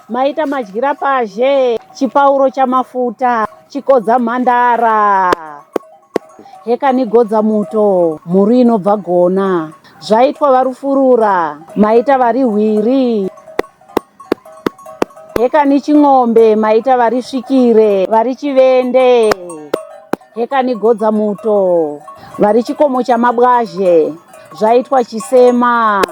maita madyira pazhe chipauro chamafuta chikodza mhandara hekanigodza muto mhuri inobva gona zvaitwa varufurura maita vari hwiri hekani ching'ombe maita vari svikire vari chivende hekani godza muto vari chikomo chamabwazhe zvaitwa chisema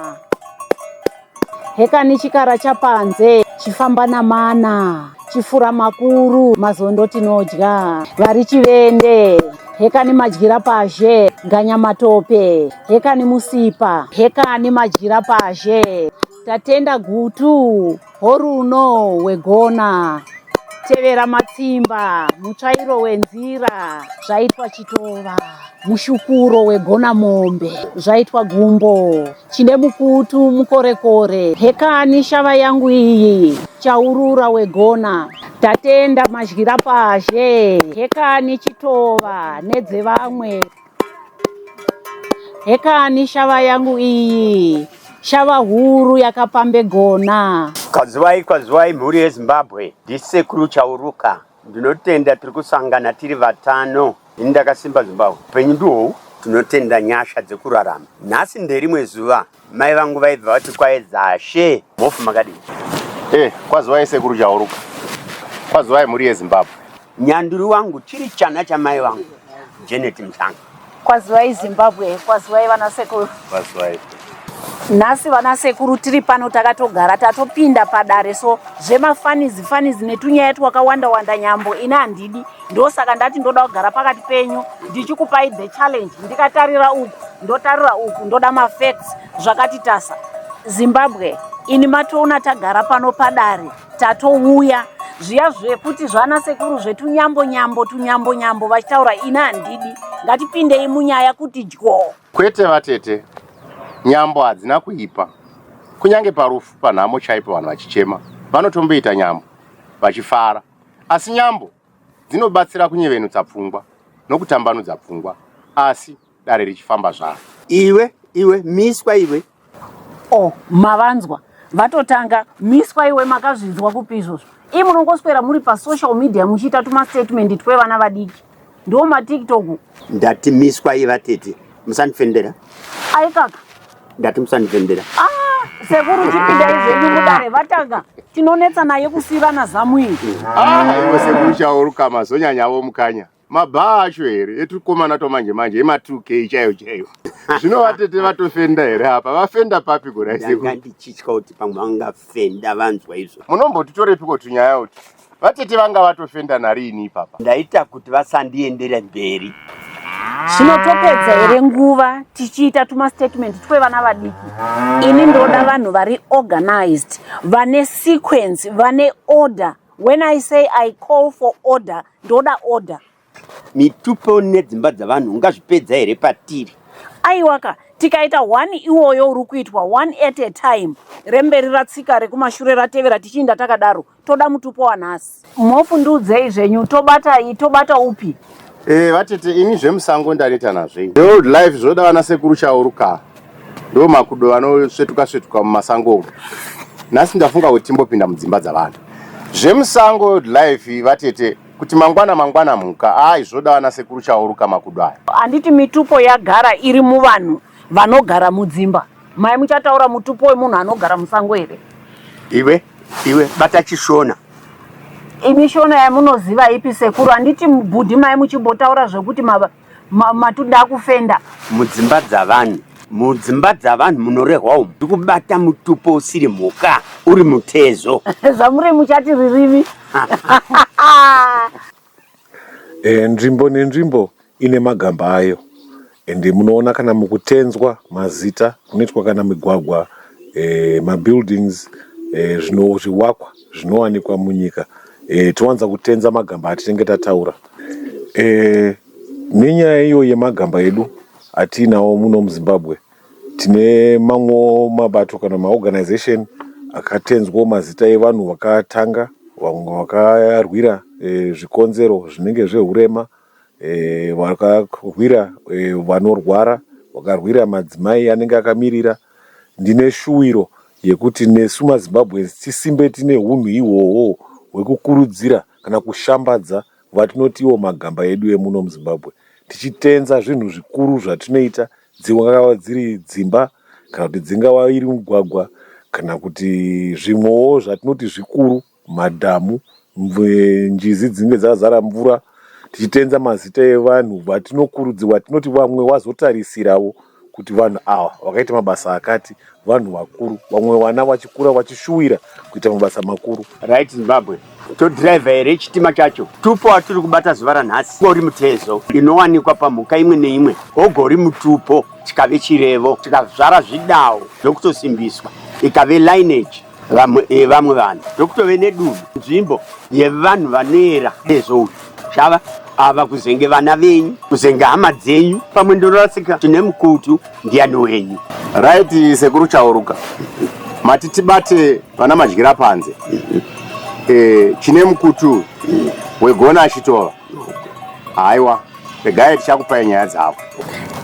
hekani chikara chapanze chifamba namana chifura makuru mazondo tinodya vari chivende hekani madyira pazhe ganya matope hekani musipa hekani madyira pazhe Tatenda gutu horuno wegona tevera matsimba mutsvairo wenzira zvaitwa chitova mushukuro wegona mombe zvaitwa gumbo chine mukutu mukorekore hekani shava yangu iyi chaurura wegona tatenda madyira pazhe hekani chitova nedzevamwe Hekani shava yangu iyi, shava huru yakapambe gona. Kazivai kwazivai mhuri yezimbabwe ndisekuru chauruka ndinotenda tiri kusangana tiri vatano ini ndakasimba zimbabwe upenyu ndihou tinotenda nyasha dzekurarama nhasi nderimwe zuva Mai vangu vaibva vati kwaedza she mhofu makadini? Eh, kwazivai sekuru chauruka. Kwazivai mhuri yeZimbabwe. Nyanduri wangu chiri chana chamai vangu Janet Mhlanga. Kwazivai Zimbabwe, kwazivai vana sekuru. Kwazivai. Nhasi vana sekuru tiri pano takatogara tatopinda padare so zvemafanizi fanizi netunyaya twakawanda wanda nyambo ini handidi. ndosaka ndati ndoda kugara pakati penyu ndichikupai the challenge ndikatarira uku ndotarira uku ndoda mafacts zvakati tasa zimbabwe ini matoona tagara pano padare tatouya zviya zvekuti zvana sekuru zvetunyambo nyambo tunyambo nyambo vachitaura ini handidi ngatipindei munyaya kuti dyo kwete vatete nyambo hadzina kuipa kunyange parufu panhamo chaipo vanhu vachichema vanotomboita nyambo vachifara Asi nyambo dzinobatsira kunyevenutsa pfungwa nokutambanudza pfungwa asi dare richifamba zvaro. Iwe, iwe, miswa iwe. Oh, mavanzwa. Vatotanga, miswa iwe makazvinzwa kupi izvozvo? Ii munongoswera muri pasocial media muchiita tumastatement twevana vadiki. ndiwo matiktok ndati miswa iva tete musandifendera ai kaka ndati musandifendera ah, sekuru chipindai zvenyu mudare vatanga tinonetsa naye kusivana zamu iyi aiwe ah, sekuru chauruka mazonyanyavo mukanya mabhaa acho here etukomana twamanje manje ema 2 k chaiyo chaiyo zvino vatete vatofenda here apa vafenda papi goraiseku ndichitya kuti pamwe vangafenda vanzwa izvo munombotitorepi kotunyaya uti Vatete vanga vatofenda nariini ipapa. Ndaita kuti vasandiendere mberi. Zvino topedza here nguva tichiita tuma statement twevana vadiki? Ini ndoda vanhu vari organized, vane sequence, vane order. When I say I call for order, ndoda order. Mitupo nedzimba dzavanhu ungazvipedza here patiri? Aiwaka, tikaita one iwoyo uri kuitwa one at a time, remberi ratsika rekumashure ratevera tichiinda takadaro. Toda mutupo wanhasi. Mhofu ndiudzei zvenyu, tobata iyi tobata upi? Eh vatete ini zvemusango ndaneta nazvo ini. Old life zvoda vana sekuru Chauruka ndo makudo vanosvetuka svetuka mumasango umu. Nhasi ndafunga kuti timbopinda mudzimba dzavanhu. Zvemusango old life vatete. kuti mangwana mangwana mhuka ai zvoda vana sekuru chauruka makudo aya handiti mitupo yagara iri muvanhu vanogara mudzimba mai muchataura mutupo wemunhu anogara musango here iwe iwe bata chishona imi shona yamunoziva ipi sekuru handiti bhudhi mai muchimbotaura zvekuti Ma, matuda akufenda mudzimba dzavanhu mudzimba dzavanhu munorehwa umu ndikubata mutupo usiri mhuka uri mutezo zvamuri muchati ririmi e, nzvimbo nenzvimbo ine magamba ayo ende munoona kana mukutenzwa mazita kunoitwa kana migwagwa e, mabuildings e, zvino zviwakwa zvinowanikwa munyika e, towanza kutenza magamba atinenge tataura Eeh nenyaya iyo yemagamba edu atiinawo muno muZimbabwe tine mamwewo mabato kana maorganization akatenzwawo mazita evanhu vakatanga vamwe vakarwira eh, zvikonzero zvinenge zvehurema eh, vakarwira eh, vanorwara vakarwira madzimai anenge akamirira ndine shuwiro yekuti nesu mazimbabweans tisimbe tine hunhu ihwohwo hwekukurudzira kana kushambadza kuva tinoti iwo magamba edu emuno muZimbabwe tichitenza zvinhu zvikuru zvatinoita dzingava dziri dzimba kana kuti dzingava iri mugwagwa kana kuti zvimwewo zvatinoti zvikuru madhamu njizi dzinenge dzazara mvura tichitenza mazita evanhu vatinokurudzirwa tinoti vamwe vazotarisirawo kuti vanhu ava vakaita mabasa akati vanhu vakuru vamwe vana vachikura vachishuwira kuita mabasa makuru right zimbabwe todriver here chitima chacho tupo atiri kubata zuva ranhasi gori mutezo inowanikwa pamhuka imwe neimwe gogori mutupo chikave chirevo chikazvara zvidawo zvokutosimbiswa ikave lineage vamwe eh, vamwe vanhu tokutove nedunhu nzvimbo yevanhu vanoera nezvouyu shava ava kuzenge vana venyu kuzenge hama dzenyu pamwe ndorasika tine mukutu ndiyani wenyu right sekuru chauruka mati tibate vana madyira panze e, chine mukutu wegona achitova Haiwa, regai tichakupai nyaya dzavo.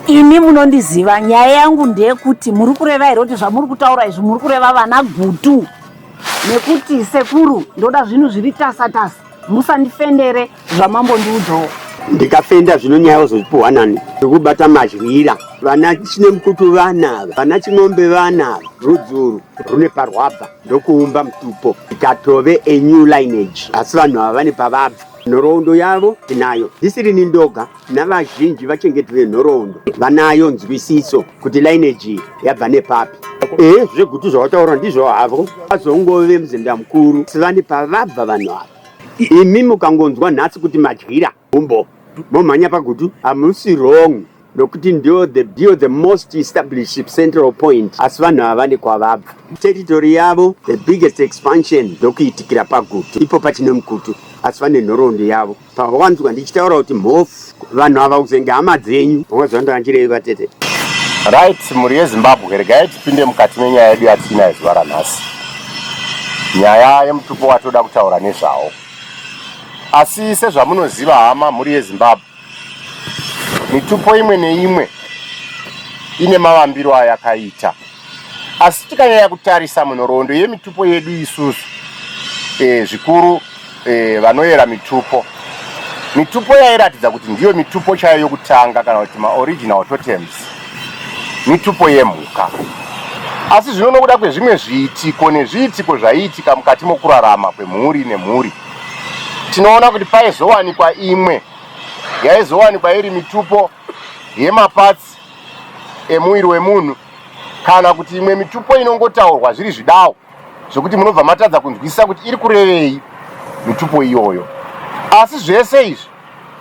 Imi munondiziva, nyaya yangu ndeyekuti muri kureva here kuti zvamuri kutaura izvi muri kureva vana gutu nekuti sekuru ndoda zvinhu zviri tasa tasa, musandifendere zvamambondiudzawo. Ndikafenda zvino nyaya uzozipuhwa nani? Ndikubata madyira. Vana Chinemukutu vana ava, vana Chimombe vana ava, rudzuru rune parwabva ndokuumba mutupo ikatove a new lineage, asi vanhu ava vane pavabva. Nhoroondo yavo tinayo, ndisirini ndoga navazhinji vachengeti venhoroondo vanayo nzwisiso kuti lineage iyi yabva nepapi. Ehe, zvegutu zvawataura ndizvo havo, vazongove muzinda mukuru sivani pavabva vanhu ava. Imi mukangonzwa nhasi kuti madyira gumbo momhanya pagutu hamusi wrong. nokuti ndiyo the, ndiyo the most established central point asi vanhu ava vane kwavabva territory yavo the biggest expansion ndokuitikira pagutu ipo pachine mukutu asi vane nhoroondo yavo pavawanzwa ndichitaura kuti mhofu vanhu ava kuzenge hama dzenyu vamwe zvandoanjirei vatete right mhuri yezimbabwe regai tipinde mukati menyaya yedu yatina yezuva ranhasi nyaya yemutupo watoda kutaura nezvawo asi sezvamunoziva hama mhuri yezimbabwe Mitupo imwe neimwe ine mavambiro ayakaita, asi tikanyanya kutarisa munhoroondo yemitupo yedu isusu e, zvikuru e, vanoyera mitupo mitupo yairatidza kuti ndiyo mitupo chayo yokutanga kana kuti maoriginal totems mitupo yemhuka asi zvino nokuda kwezvimwe zviitiko nezviitiko zvaiitika mukati mokurarama kwemhuri nemhuri tinoona kuti paizowanikwa imwe yaizowanikwa iri mitupo yemapatsi emuviri wemunhu kana kuti imwe mitupo inongotaurwa zviri zvidawo zvekuti munobva matadza kunzwisisa kuti iri kurevei mitupo iyoyo asi zvese izvi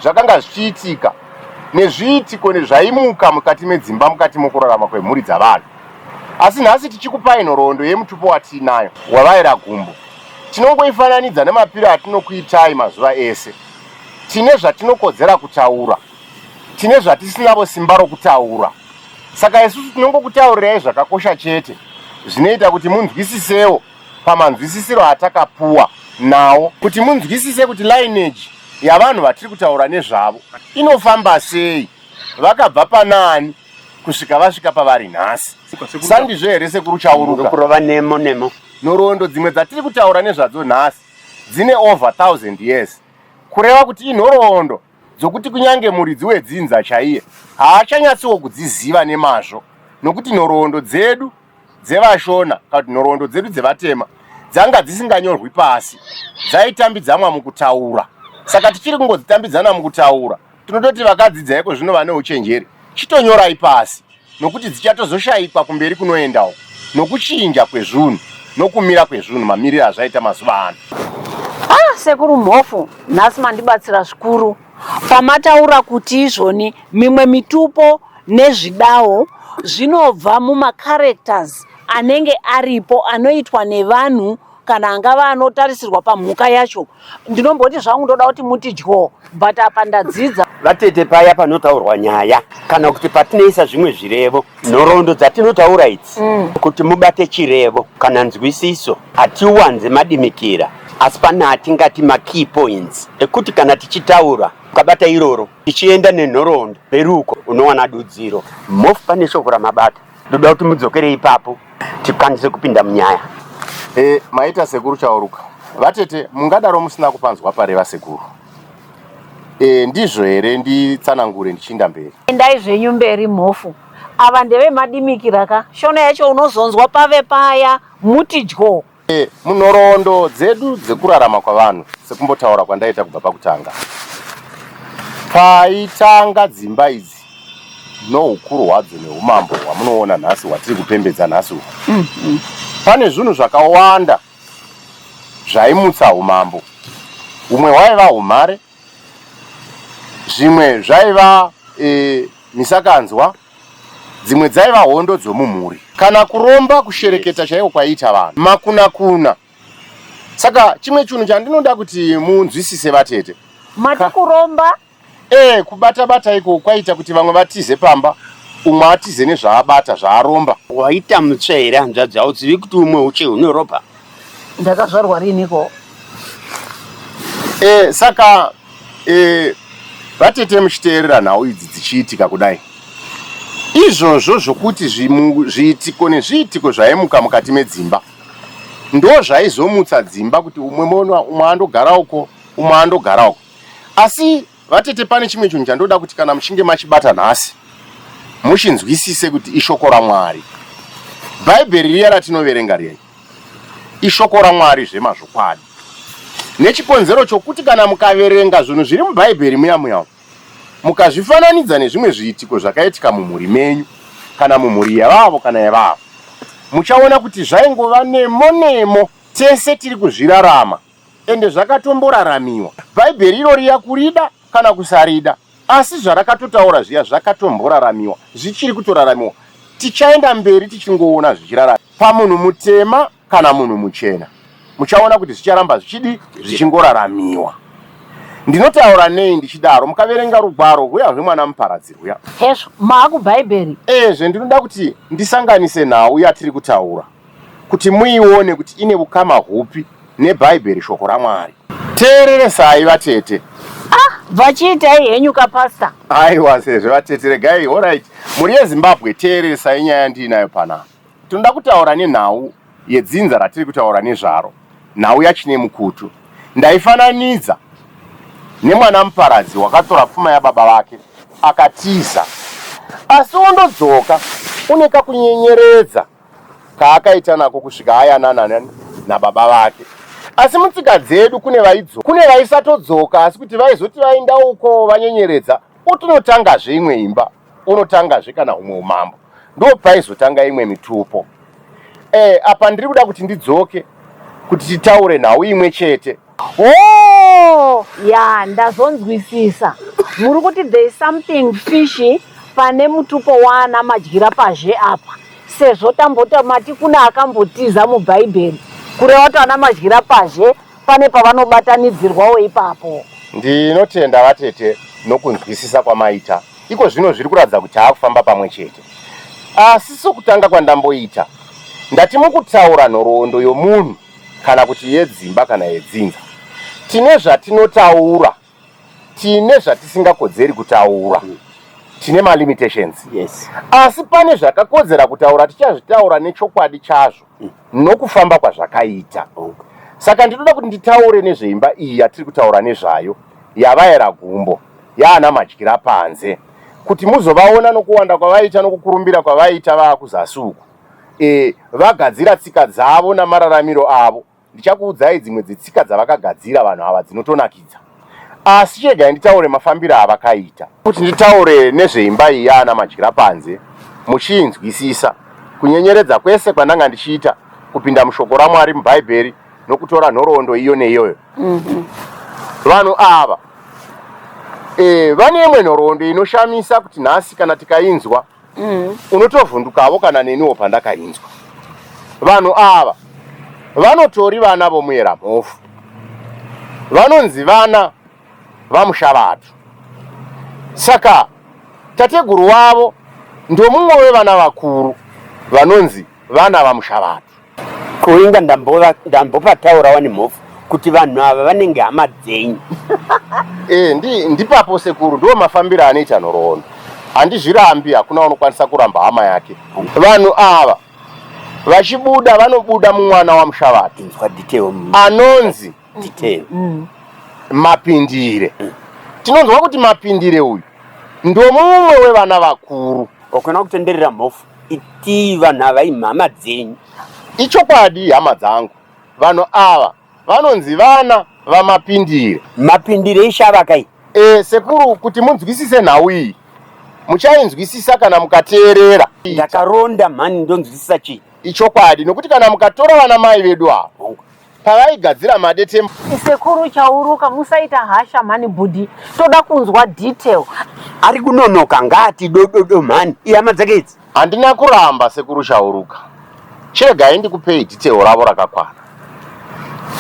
zvakanga zvichiitika nezviitiko nezvaimuka mukati medzimba mukati mokurarama kwemhuri dzavanhu asi nhasi tichikupai nhoroondo yemutupo watiinayo wavaira gumbo Tinongoifananidza nemapiro atinokuitai mazuva ese. Tine zvatinokodzera kutaura, tine zvatisinavo simba rokutaura. Saka isusu tinongokutaurirai zvakakosha chete zvinoita kuti munzwisisewo pamanzwisisiro atakapuwa nawo, kuti munzwisise kuti lineage yavanhu vatiri kutaura nezvavo inofamba sei, vakabva panaani. kusvika vasvika pavari nhasi sandizvo here sekuru chauruka kurova nemo nemo nhoroondo dzimwe dzatiri kutaura nezvadzo nhasi dzine over 1000 years kureva kuti inhoroondo dzokuti kunyange muridzi wedzinza chaiye haachanyatsiwo kudziziva nemazvo nokuti nhoroondo dzedu dzevashona kana kuti nhoroondo dzedu dzevatema dzanga dzisinganyorwi pasi dzaitambidzanwa mukutaura saka tichiri kungodzitambidzana mukutaura Tinototi vakadzidza iko zvino vane uchenjeri, chitonyorai pasi nokuti dzichatozoshaikwa kumberi kunoenda uko nokuchinja kwezvunhu nokumira kwezvunhu mamirire azvaita mazuva ano. Ah, sekuru Mhofu, nhasi mandibatsira zvikuru pamataura kuti izvoni mimwe mitupo nezvidawo zvinobva mumacharacters anenge aripo anoitwa nevanhu kana angava anotarisirwa pamhuka yacho ndinomboti zvangu ndoda kuti muti dyo but apa ndadzidza vatete paya panotaurwa nyaya kana kuti patinoisa zvimwe zvirevo nhoroondo dzatinotaura idzi mm. kuti mubate chirevo kana nzwisiso hatiwanze madimikira asi pane atingati makey points ekuti kana tichitaura ukabata iroro tichienda nenhoroondo peruko unowana dudziro mof pane shoko ramabata ndoda kuti mudzokere ipapo tikwanise kupinda munyaya e, maita sekuru chauruka vatete mungadaro musina kupanzwa pare vasekuru e, ndizvo here nditsanangure ndichiinda mberi endai zvenyu mberi mhofu ava ndevemadimikira ka shona yacho unozonzwa pave paya muti dyo E, munhoroondo dzedu dzekurarama kwavanhu sekumbotaura kwandaita kubva pakutanga paitanga dzimba idzi noukuru hwadzo neumambo hwamunoona nhasi hwatiri kupembedza nhasi uku mm -hmm. pane zvinhu zvakawanda zvaimutsa umambo umwe hwaiva umhare zvimwe zvaiva e, misakanzwa e, dzimwe dzaiva hondo dzomumhuri kana kuromba kushereketa chaiko kwaiita vanhu makunakuna saka chimwe chinhu chandinoda kuti munzwisise vatete mati kuromba ee kubata bata iko kwaita kuti vamwe vatize pamba umwe atize nezvaabata zvaaromba waita mutsva here hanzvadzi hauzivi kuti umwe uche hune ropa Ndakazvarwa riniko? Eh, saka eh, vatete muchiteerera nhau idzi dzichiitika kudai izvozvo zvokuti zviitiko nezviitiko zvaimuka mukati medzimba ndo zvaizomutsa dzimba kuti umwe mona umwe andogara uko umwe andogara uko asi Vatete pane chimwe chinhu chandoda kuti kana muchinge machibata nhasi muchinzwisise kuti ishoko raMwari. Bhaibheri riya ratinoverenga riya ishoko raMwari zvemazvokwadi. Nechikonzero chokuti kana mukaverenga zvinhu zviri mubhaibheri muya muya mukazvifananidza nezvimwe zviitiko zvakaitika mumhuri menyu kana mumhuri yevavo kana yevavo muchaona kuti zvaingova nemo nemo tese tiri kuzvirarama Ende zvakatomboraramiwa. Bhaibheri iro riya kurida kana kusarida. Asi zvarakatotaura zviya zvakatomboraramiwa. Zvichiri kutoraramiwa. Tichaenda mberi tichingoona zvichiraramiwa. Pamunhu mutema kana munhu muchena. Muchaona kuti zvicharamba zvichidii? Zvichingoraramiwa. Ndinotaura nei ndichidaro? Mukaverenga rugwaro rwuya rweMwana Muparadzi rwuya. Hezvo, maa kubhaibheri. Ezve ndinoda kuti ndisanganise nhau yatiri kutaura. kuti muione kuti ine ukama hupi neBhaibheri, Shoko raMwari. Teereresai vatete. Ah, vachiitai henyu ka pastor. Aiwa sezvo vatete regai horait mhuri yeZimbabwe teereresai nyaya yandiinayo panapa. Tinoda kutaura nenhau yedzinza ratiri kutaura nezvaro, nhau yaChinemukutu. Ndaifananidza nemwana muparadzi wakatora pfuma yababa vake akatiza, asi wondodzoka une kakunyenyeredza kaakaita nako kusvika ayanana nababa vake asi mutsika dzedu kune vaidzo kune vaisatodzoka asi kuti vaizoti vainda uko vanyenyeredza otonotangazve imwe imba onotangazve kana humwe umambo ndo paizotanga imwe mitupo e, apa ndiri kuda kuti ndidzoke kuti titaure nhau imwe chete Oh, ya ndazonzwisisa. Muri kuti there is something fishy pane mutupo waana madyira pazhe apa sezvo tambota mati kune akambotiza mubhaibheri kureva kuti ana madyira pazhe pane pavanobatanidzirwawo ipapo. Ndinotenda vatete nokunzwisisa kwamaita. Iko zvino zviri kuratidza kuti taakufamba pamwe chete. Asi sokutanga kwandamboita, ndati mukutaura nhoroondo yomunhu kana kuti yedzimba kana yedzinza. Tine zvatinotaura, tine zvatisingakodzeri kutaura. Mm. Tine ma limitations. Yes. Asi pane zvakakodzera kutaura tichazvitaura nechokwadi chazvo mm. nokufamba kwazvakaita. Okay. Saka ndinoda kuti nditaure nezveimba iyi yatiri kutaura nezvayo yavaera gumbo yaana madyira panze kuti muzovaona nokuwanda kwavaita nokukurumbira kwavaita vaakuzasi uku. e, vagadzira tsika dzavo namararamiro avo ndichakuudzai dzimwe dzetsika dzavakagadzira vanhu ava dzinotonakidza asi chegai nditaure mafambiro avakaita kuti nditaure nezveimba iyi yaana madyira panze muchiinzwisisa kunyenyeredza kwese kwandanga ndichiita kupinda mushoko ramwari mubhaibheri nokutora nhoroondo iyo neiyoyo mm -hmm. vanhu ava e, vane imwe nhoroondo inoshamisa kuti nhasi kana tikainzwa e, mm. unotovhundukavo kana neniwo pandakainzwa vanhu ava vanotori vana vomuyera mhofu vanonzi vana vamushavatu saka tateguru wavo ndomumwe wevana vakuru vanonzi vana vamushavatu Ko inga ndambova ndambopataurawo nemhofu kuti vanhu ava vanenge hama dzenyu. Eh ndi ndipapo sekuru ndiwo mafambiro anoita nhoroondo. Handizvirambi hakuna unokwanisa kuramba hama yake. Vanhu ava vachibuda vanobuda mumwana waMushavati Inzwa detail. anonzi detail mm. mapindire mm. tinonzwa kuti mapindire uyu ndomumwe wevana vakuru okona kutenderera mhofu itii vanhu ava imhama dzenyu ichokwadi hama dzangu vanhu ava vanonzi vana vamapindire mapindire ishavakai e, eh, sekuru kuti munzwisise nhau iyi muchainzwisisa kana mukateerera ndakaronda mhani ndonzwisisa chii ichokwadi nokuti kana mukatora vana mai vedu avo pavaigadzira madetembo. Sekuru Chauruka musaita hasha mhani bhudhi toda kunzwa detail. Ari kunonoka ngaati dododo mhani ihama dzake idzi. Handina kuramba sekuru Chauruka chiregai ndikupei detail ravo rakakwana.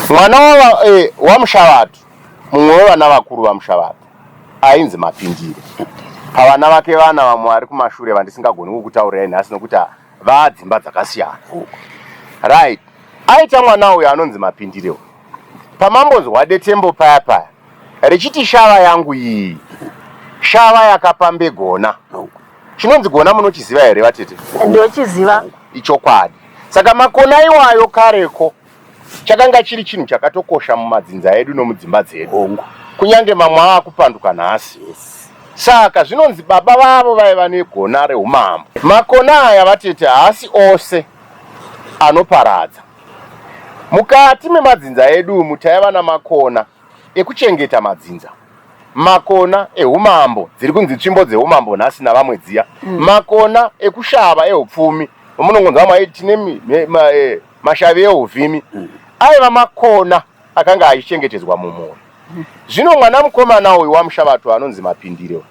Mwana wa eh, waMushavatu mumwe wevana vakuru vaMushavatu ainzi Mapindire pavana vake vana vamwe vari kumashure vandisingagoni kukutaurirai nhasi nokuti Vaa dzimba dzakasiyana huku. Right. Aita mwana uyo anonzi Mapindire uyo. Pamambonzwa detembo paya paya richiti shava yangu iyi shava yakapambe gona. Chinonzi gona munochiziva here vatete? Ndochiziva. Ichokwadi. Saka makona iwayo kareko chakanga chiri chinhu chakatokosha mumadzinza edu nomudzimba dzedu kunyange mamwe ava kupanduka nhasi saka zvinonzi baba vavo vaiva negona reumambo makona aya vatete haasi ose anoparadza mukati memadzinza edu umu taiva namakona ekuchengeta madzinza makona eumambo dziri kunzi tsvimbo dzeumambo nhasi navamwe dziya mm. makona ekushava eupfumi vamunongonzwa maiti tine eh, Mashavi euvhimi aiva makona akanga achichengetedzwa mumhuri. Zvino mwana mukomana uyu waMushavatu anonzi Mapindire uyu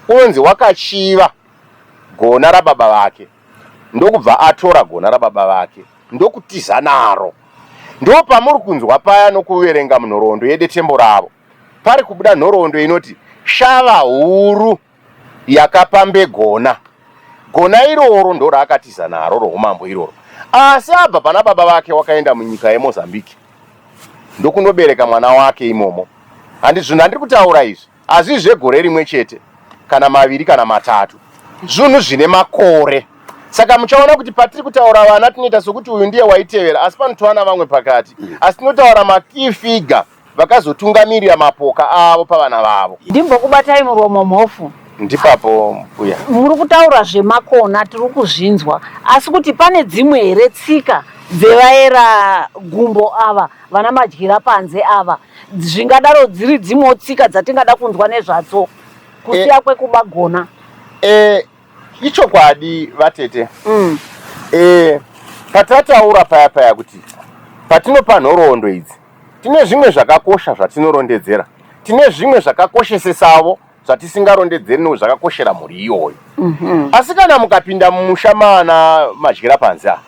unonzi wakachiva gona rababa vake ndokubva atora gona rababa vake ndokutiza naro. Ndo pamuri kunzwa paya nokuverenga munhoroondo yedetembo ravo pari kubuda nhoroondo inoti Shava huru. yakapambe gona. Gona iroro ndoraakatiza naro roumambo iroro. Asi abva pana baba vake wakaenda munyika yeMozambique ndokunobereka mwana wake imomo. Handi zvinhu handiri kutaura izvi hazvii zvegore rimwe chete kana maviri kana matatu. Zvunhu zvine makore. Saka muchaona kuti patiri kutaura vana tinoita sokuti uyu ndiye waitevera asi panotovana vamwe pakati. Asi tinotaura makey figure. Vakazotungamirira mapoka avo pavana vavo. Ndimbokubatai muromo Mhofu. Ndipapo mbuya. Muri kutaura zvemakona tiri kuzvinzwa asi kuti pane dzimwe here tsika dzevaera gumbo ava vana madyira panze ava zvingadaro dziri dzimwewo tsika dzatingada kunzwa nezvatso kusiya kwekubagona. Eh, Ichokwadi vatete mm. E, patataura paya paya kuti patinopa nhoroondo idzi tine zvimwe zvakakosha zvatinorondedzera tine zvimwe zvakakoshesesavo zvatisingarondedzeri no zvakakoshera mhuri iyoyo mm -hmm. asi kana mukapinda mumusha maana madyira panze ava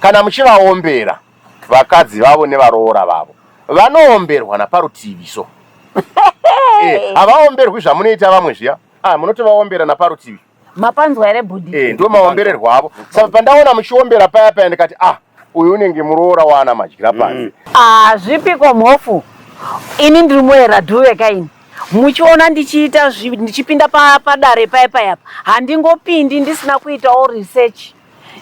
kana muchivaombera vakadzi vavo nevaroora vavo vanoomberwa naparutivi so eh, havaomberwi zvamunoita vamwe zviya Ah, munoti vaombera naparutivi. Mapanzwa here bhudhi? Eh, ndo maombererwa avo. Saka pandaona muchiombera paya paya ndikati ah, uyu unenge muroora waana madyira panze. Mm. Ah, zvipiko mhofu. Ini ndiri muera dhuve kaini. muchiona ndichiita ndichipinda padare paya paya apa handingopindi ndisina kuitawo research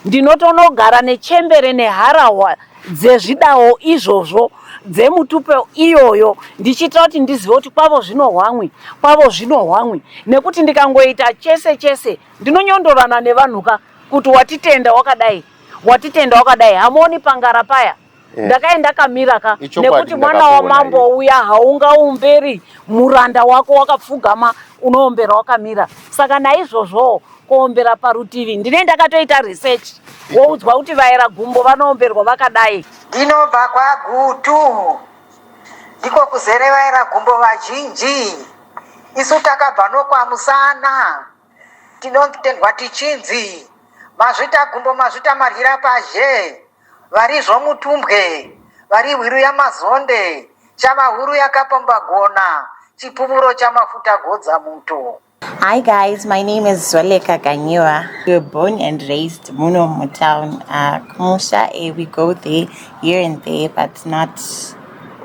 Ndinotonogara nechembere neharahwa dzezvidawo izvozvo dzemutupe iyoyo ndichiitira kuti ndizive kuti kwavo zvinohwamwi kwavo zvinohwamwi nekuti ndikangoita chese chese ndinonyondorana nevanhuka kuti watitenda wakadai watitenda wakadai hamuoni pangara paya Eh. ndakave ndakamira ka nekuti mwana wamambo uya haungaomberi muranda wako wakapfugama unoombera wakamira saka naizvozvowo kuombera parutivi ndine ndakatoita research woudzwa kuti vaera gumbo vanoomberwa vakadai ndinobva kwagutu ndiko kuzere vaera gumbo vazhinji isu takabva nokwamusana Tinotendwa tichinzi mazvita gumbo mazvita maryira pazhe varizvo mutumbwe vari hwiru yamazonde chava huru yakapamba gona chipuvuro chamafuta godza muto. Hi guys, my name is Zweleka Ganyiwa. We were born and raised muno mutown. Uh, Kumusha, eh, we go there, here and there, but not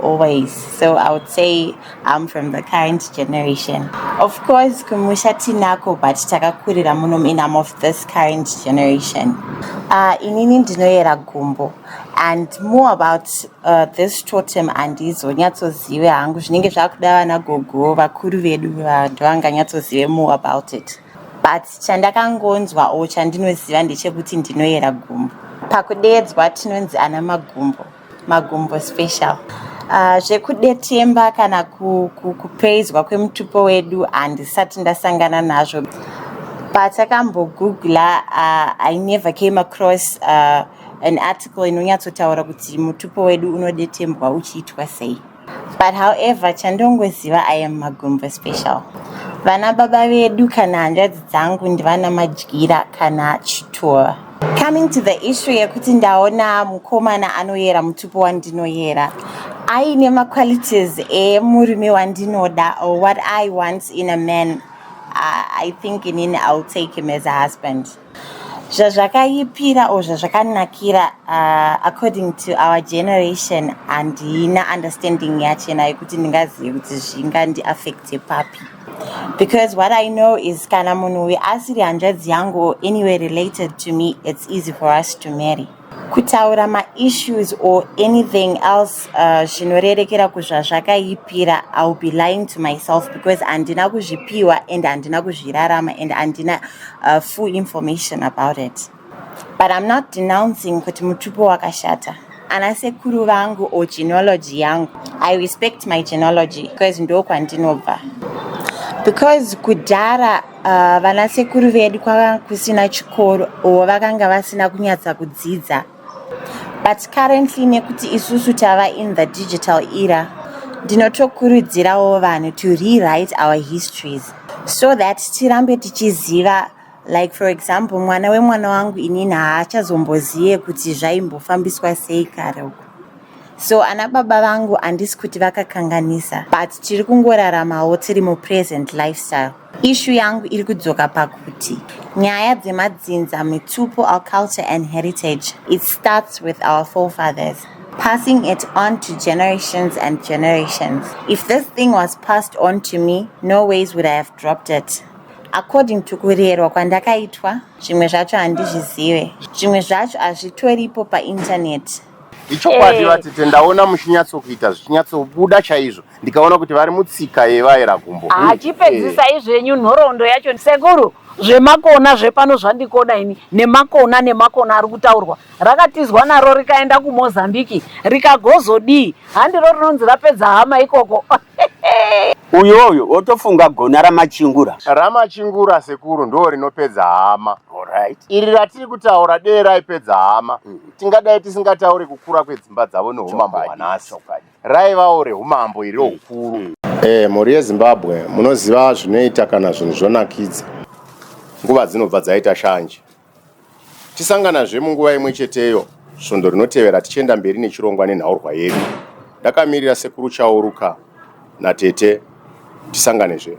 always so i would say i'm from the current generation of course kumusha tinako but takakurira muno in am of this current generation uh, inini ndinoyera gumbo and more about uh, this totem handizonyatsozive hangu zvinenge zvakuda vana gogo vakuru vedu ndovanganyatsozive more about it but chandakangonzwa o chandinoziva ndechekuti ndinoyera gumbo pakudeedzwa tinonzi ana magumbo magumbo special uh, zvekudetemba kana kupraiswa kwemutupo wedu handisati ndasangana nazvo patakambogugla uh, i never came across uh, an article inonyatsotaura kuti mutupo wedu unodetembwa uchiitwa sei But however chandongoziva I am Magumbo special. Vana baba vedu kana hanzvadzi dzangu ndivana madyira kana chituva. Coming to the issue yekuti ndaona mukomana anoyera mutupo wandinoyera aine maqualities emurume wandinoda or what I want in a man uh, I think inini I'll take him as a husband. zvazvakaipira or zvazvakanakira uh, according to our generation handina understanding yachena yekuti ndingazive kuti zvingandiaffecte papi because what i know is kana munhu uyu asiri hanzvadzi yangu or anyway related to me it's easy for us to marry kutaura maissues or anything else uh, zvinorerekera uh, kuzvazvakaipira iwill be lying to myself because handina kuzvipiwa and handina kuzvirarama and handina uh, full information about it but i'm not denouncing kuti mutupo wakashata ana sekuru vangu or genealogy yangu i respect my genealogy because ndokwandinobva because kudhara Uh, vana sekuru vedu kwakanga kusina chikoro or vakanga vasina kunyatsa kudzidza but currently nekuti isusu tava in the digital era ndinotokurudzirawo vanhu to rewrite our histories so that tirambe tichiziva like for example mwana wemwana wangu inini haachazombozive kuti zvaimbofambiswa sei kare uku so ana baba vangu handisi kuti vakakanganisa but tiri kungoraramawo tiri mupresent lifestyle Ishu yangu iri kudzoka pakuti nyaya dzemadzinza mitupo our culture and heritage it starts with our forefathers passing it on to generations and generations if this thing was passed on to me no ways would i have dropped it according to kurerwa kwandakaitwa zvimwe zvacho handizvizive zvimwe zvacho hazvitoripo painternet ichokwadi vatete ndaona muchinyatsokuita zvichinyatsobuda chaizvo ndikaona kuti vari mutsika yevaera gumbo hachipedzisai ah, zvenyu nhoroondo yacho sekuru zvemakona zvepano zvandikoda ini nemakona nemakona ari kutaurwa rakatizwa naro rikaenda kumozambiki rikagozodii handiro rinonzi rapedza hama ikoko uyoyo wotofunga gona ramachingura ramachingura sekuru ndo rinopedza hama iri ratiri kutaura dee raipedza hama mm. tingadai tisingataure kukura kwedzimba dzavo neumambo hwanhasi raivawo reumambo iri ukuru mm. e, mhuri yezimbabwe munoziva zvinoita kana zvinhu zvonakidza nguva dzinobva dzaita shanje tisanganazve munguva imwe cheteyo svondo rinotevera tichienda mberi nechirongwa nenhaurwa yedu ndakamirira sekuru chauruka natete tisanganezve